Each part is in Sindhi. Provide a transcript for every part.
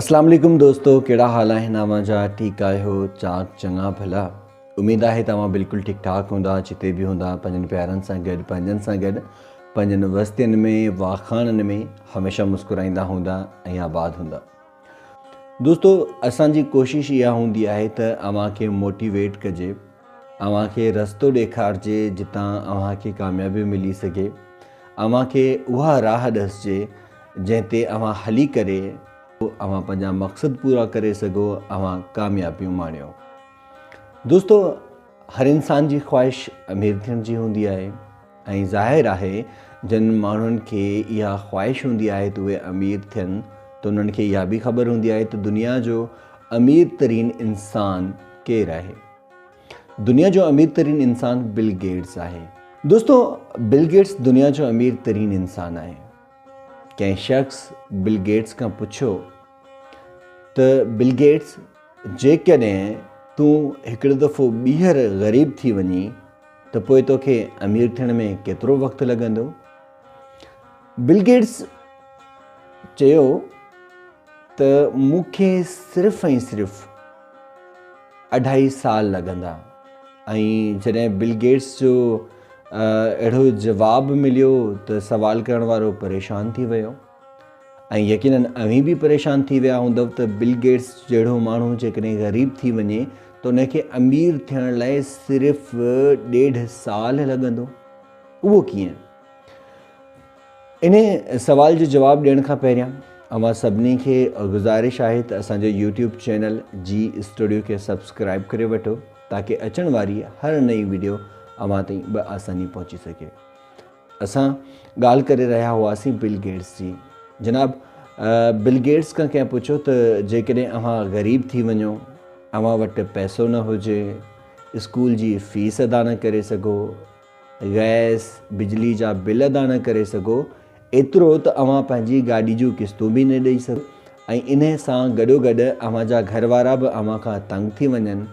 اسلام عليڪم دوستو ڪهڙا حال آهن اوهان جا ٺيڪ آهيو چاڪ چڱا ڀلا اميد آهي توهان بلڪل ٺيڪ ٺاڪ هوندا جتي به هوندا پنهنجن پيارن سان گڏ پنهنجن سان گڏ پنهنجن وستين ۾ واخاڻن ۾ هميشه مسڪرائيندا هوندا ۽ آباد هوندا دوستو اسان جي ڪوشش اها هوندي آهي ته اوهان کي موٽيويٽ ڪجي اوهان کي رستو ڏيکارجي جتان اوهان کي ڪاميابي ملي سگهي. اوهان کي اها راهه ڏسجي جنهن تي اوهان هلي ڪري اوهان پنهنجا مقصد پورا ڪري سگهو اوهان ڪاميابيون ماڻيو. دوستو هر انسان جي خواهش امير ٿيڻ جي هوندي آهي. ۽ ظاهر آهي جن ماڻهن کي اها خواهش هوندي آهي ته اهي امير ٿين ته انهن کي اها به خبر هوندي آهي ته دنيا جو امير ترين انسان ڪير آهي. دنيا جو امير ترين انسان بل گيٽس آهي. دوستو بل گيٽس دنيا جو امير ترين انسان آهي. ڪنهن شخص بل گيٽس کان پڇيو ته بل گيٽس جيڪڏهن تون هڪڙو دفعو ٻيهر غريب ٿي وڃين ته پوء توکي امير ٿيڻ ۾ ڪيترو وقت لڳندو؟ بل گيٽس چيو ته مون کي صرف ۽ صرف اڍائي سال لڳندا ۽ جڏهن بل گيٽس جو اهڙو جواب مليو ته سوال ڪرڻ وارو پريشان ٿي ويو ۽ يقينن اوهين به پريشان ٿي ويا هوندؤ ته بل گيٽس جهڙو ماڻهو جيڪڏهن غريب ٿي وڃي ته ان کي امير ٿيڻ لاء صرف ڏيڍ سال لڳندو. اهو ڪيئن؟ انهي سوال جو جواب ڏيڻ کان پهريان اوهان سڀني کي گذارش آهي ته اسان جو يوٽيوب چينل جي اسٽوڊيو کي سبسڪرائب ڪري وٺو تاڪه اچڻ واري هر نئين وڊيو اوهان تائين بآساني پهچي سگهي. اسان ڳالهه ڪري رهيا هئاسين بل گيٽس جي. جناب بل گيٽس کان ڪنهن پڇيو ته جيڪڏهن اوهان غريب ٿي وڃو، اوهان وٽ پئسو نه هجي، اسڪول جي فيس ادا نه ڪري سگهو، گئس، بجلي جا بل ادا نه ڪري سگهو، ايترو ته اوهان پنهنجي گاڏي جون قسطون به نه ڏئي سگهو ۽ انهي سان گڏوگڏ اوهان جا گهر وارا به اوهان کان تنگ ٿي وڃن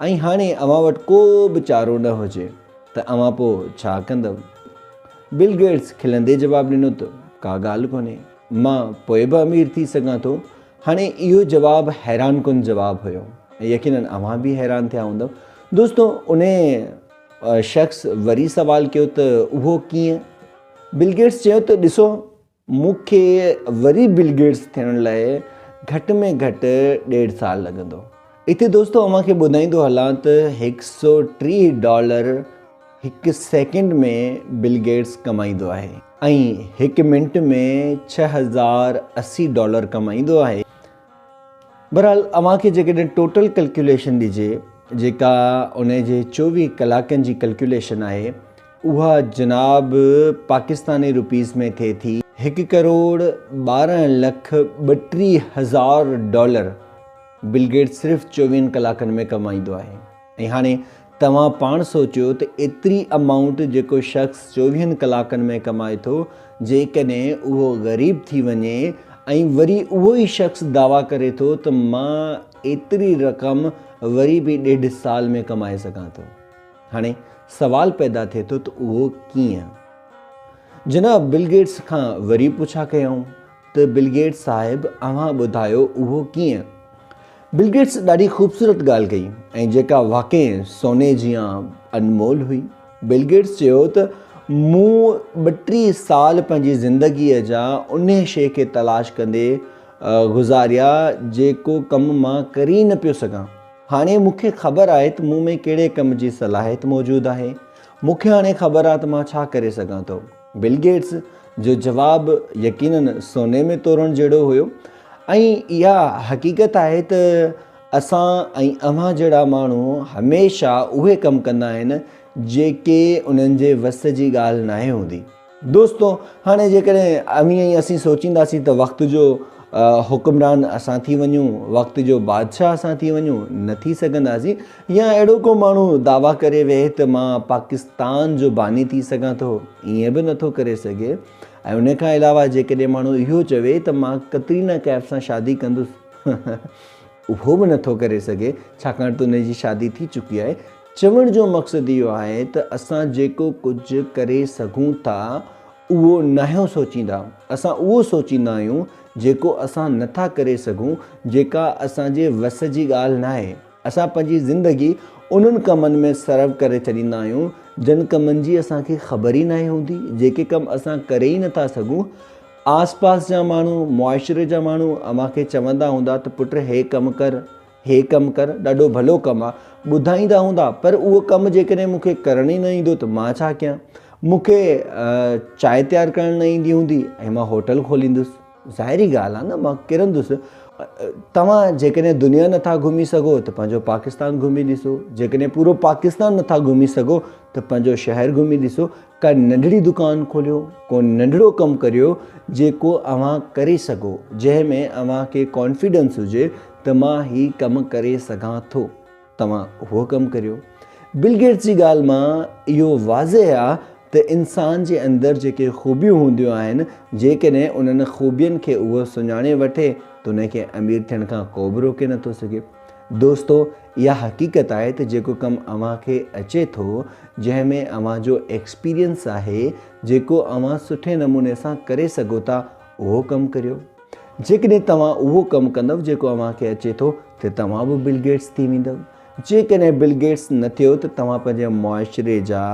۽ هاڻي اوهان وٽ ڪو به چارو نه هجي. ته اوهان پوء ڇا ڪندؤ؟ بل گيٽس کلندي جواب ڏنو ته ڪا ڳالهه ڪونهي، مان پوء به امير ٿي سگهان ٿو. هاڻي اهو جواب حيران ڪن جواب هيو ۽ يقينن اوهان به حيران ٿيا هوندؤ. دوستو انهيء شخص وري سوال ڪيو ته اهو ڪيئن؟ بل گيٽس چيو ته ڏسو! مون کي وري بل گيٽس ٿيڻ لاء گهٽ ۾ گهٽ ڏيڍ سال لڳندو. اتي دوستو اوهان کي ٻڌائيندو هلان ته هڪ سؤ ٽيهه ڊالر هڪ سيڪنڊ ۾ بل گيٽس ڪمائيندو آهي ۽ هڪ منٽ ۾ ڇهه هزار اسي ڊالر ڪمائيندو آهي. بهرحال اوهان کي جيڪڏهن ٽوٽل ڪلڪيوليشن ڏجي جيڪا ان جي چوويهه ڪلاڪن جي ڪلڪيوليشن آهي اها جناب پاڪستاني روپيز ۾ ٿئي ٿي هڪ ڪروڙ ٻارهن لک ٻٽيهه هزار ڊالر بل گيٽس صرف چوويهن ڪلاڪن ۾ ڪمائيندو آهي ۽ هاڻي توهان پاڻ سوچيو ته ايتري امائونٽ جيڪو شخص چوويهن ڪلاڪن ۾ ڪمائي ٿو جيڪڏهن اهو غريب ٿي وڃي ۽ وري اهو ئي شخص دعويٰ ڪري ٿو ته مان ايتري رقم وري به ڏيڍ سال ۾ ڪمائي سگهان ٿو. هاڻي سوال پيدا ٿئي ٿو ته اهو ڪيئن؟ جناب بل گيٽس کان وري پڇا ڪيائون ته بل گيٽس صاحب اوهان ٻڌايو اهو ڪيئن؟ بل گيٽس ڏاڍي خوبصورت ڳالهه ڪئي ۽ جيڪا واقعي سوني جيان انمول هئي. بل گيٽس چيو ته مون ٻه ٽي سال پنهنجي زندگيء جا انهي شيء کي تلاش ڪندي گذاريا جيڪو ڪم مان ڪري ئي نه پيو سگهان. هاڻي مون کي خبر آهي ته مون ۾ ڪهڙي ڪم جي صلاحيت موجود آهي. مون کي هاڻي خبر آهي ته مان ڇا ڪري سگهان ٿو. بل گيٽس جو جواب يقيناً سوني ۾ تورڻ جهڙو هيو ۽ اها حقيقت آهي ته اسان ۽ اوهان جهڙا ماڻهو هميشه اهي ڪم ڪندا آهن جيڪي انهن جي وس جي ڳالهه ناهي هوندي. دوستو! هاڻي جيڪڏهن اوهين ۽ اسين سوچينداسين ته وقت جو حڪمران اسان ٿي وڃون، وقت جو بادشاهه اسان ٿي وڃون، نه ٿي سگهنداسين. يا اهڙو ڪو ماڻهو دعويٰ ڪري ويهي ته مان پاڪستان جو باني ٿي سگهان ٿو، ائين به نه ٿو ڪري سگهي. ۽ ان کان علاوه جيڪڏهن ماڻهو اهو چوي ته مان ڪترينا ڪيف سان شادي ڪندس، اهو به نه ٿو ڪري سگهي، ڇاڪاڻ ته ان جي شادي ٿي چڪي آهي. چوڻ جو مقصد اهو آهي ته اسان جيڪو ڪجهه ڪري سگهون ٿا اهو ناهيون سوچيندا، اسان اهو سوچيندا آهيون جيڪو اسان نٿا ڪري سگهون، جيڪا اسان جي وس جي ڳالهه ناهي. اسان پنهنجي زندگي انهن ڪمن ۾ صرف ڪري ڇڏيندا آهيون جن ڪمن جي اسان کي خبر ئي ناهي هوندي، جيڪي ڪم اسان ڪري ئي نٿا سگهون. آس پاس جا ماڻهو، معاشري جا ماڻهو اوهان کي چوندا هوندا ته پٽ هي ڪم ڪر، هي ڪم ڪر، ڏاڍو ڀلو ڪم آ. ٻڌائيندا هوندا، پر اهو ڪم جيڪڏهن مون کي ڪرڻ ئي نه ايندو ته مان ڇا ڪيان؟ مون کي چانهه تيار ڪرڻ نه ايندي هوندي ۽ مان هوٽل کوليندس؟ ظاهري ڳالهه آ نه مان ڪرندس. توهان جيڪڏهن دنيا نه ٿا گهمي سگهو ته پنهنجو پاڪستان گهمي ڏسو، جيڪڏهن پورو پاڪستان نه ٿا گهمي سگهو ته پنهنجو شهر گهمي ڏسو، ڪا ننڍڙي دڪان کوليو، ڪو ننڍڙو ڪم ڪريو جيڪو اوهان ڪري سگهو، جنهن ۾ اوهان کي ڪانفيڊنس هجي ته مان هي ڪم ڪري سگهان ٿو. توهان اهو ڪم ڪريو. بل گيٽس جي ڳالهه مان اهو واضح آ ته انسان جي اندر جيڪي خوبيون هونديون آهن، جيڪڏهن انهن خوبين کي اهو سڃاڻي وٺي ته ان کي امير ٿيڻ کان ڪوبه روڪي نٿو سگهي. دوستو! اها حقيقت آهي ته جيڪو ڪم اوهان کي اچي ٿو، جنهن ۾ اوهان جو ايڪسپيرينس آهي، جيڪو اوهان سٺي نموني سان ڪري سگهو ٿا، اهو ڪم ڪريو. جيڪڏهن توهان اهو ڪم ڪندؤ جيڪو اوهان کي اچي ٿو ته توهان به بل گيٽس ٿي ويندؤ. جيڪڏهن بل گيٽس نه ٿيو ته توهان پنهنجي معاشري جا،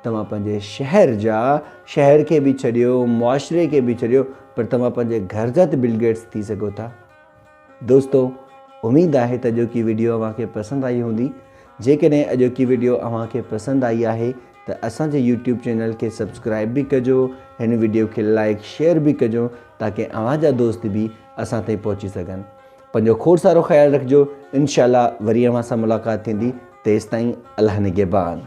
توهان پنهنجي شهر جا، شهر کي به ڇڏيو، معاشري کي به ڇڏيو پر توهان پنهنجي گهر جا ته بل گيٽس ٿي سگهو ٿا. دوستو اميد آهي ته اڄوڪي ويڊيو اوهان کي پسند آئي هوندي جيڪڏهن اڄوڪي ويڊيو اوهان کي پسند آئي آهي ته اسان جي يوٽيوب چينل کي سبسڪرائب به ڪجو هن ويڊيو کي لائيڪ شيئر به ڪجو تاڪه اوهان جا دوست به اسان تائين پهچي سگهن پنهنجو کوڙ سارو خيال رکجو انشاءالله وري اوهان سان ملاقات ٿيندي تيستائين الله نگهبان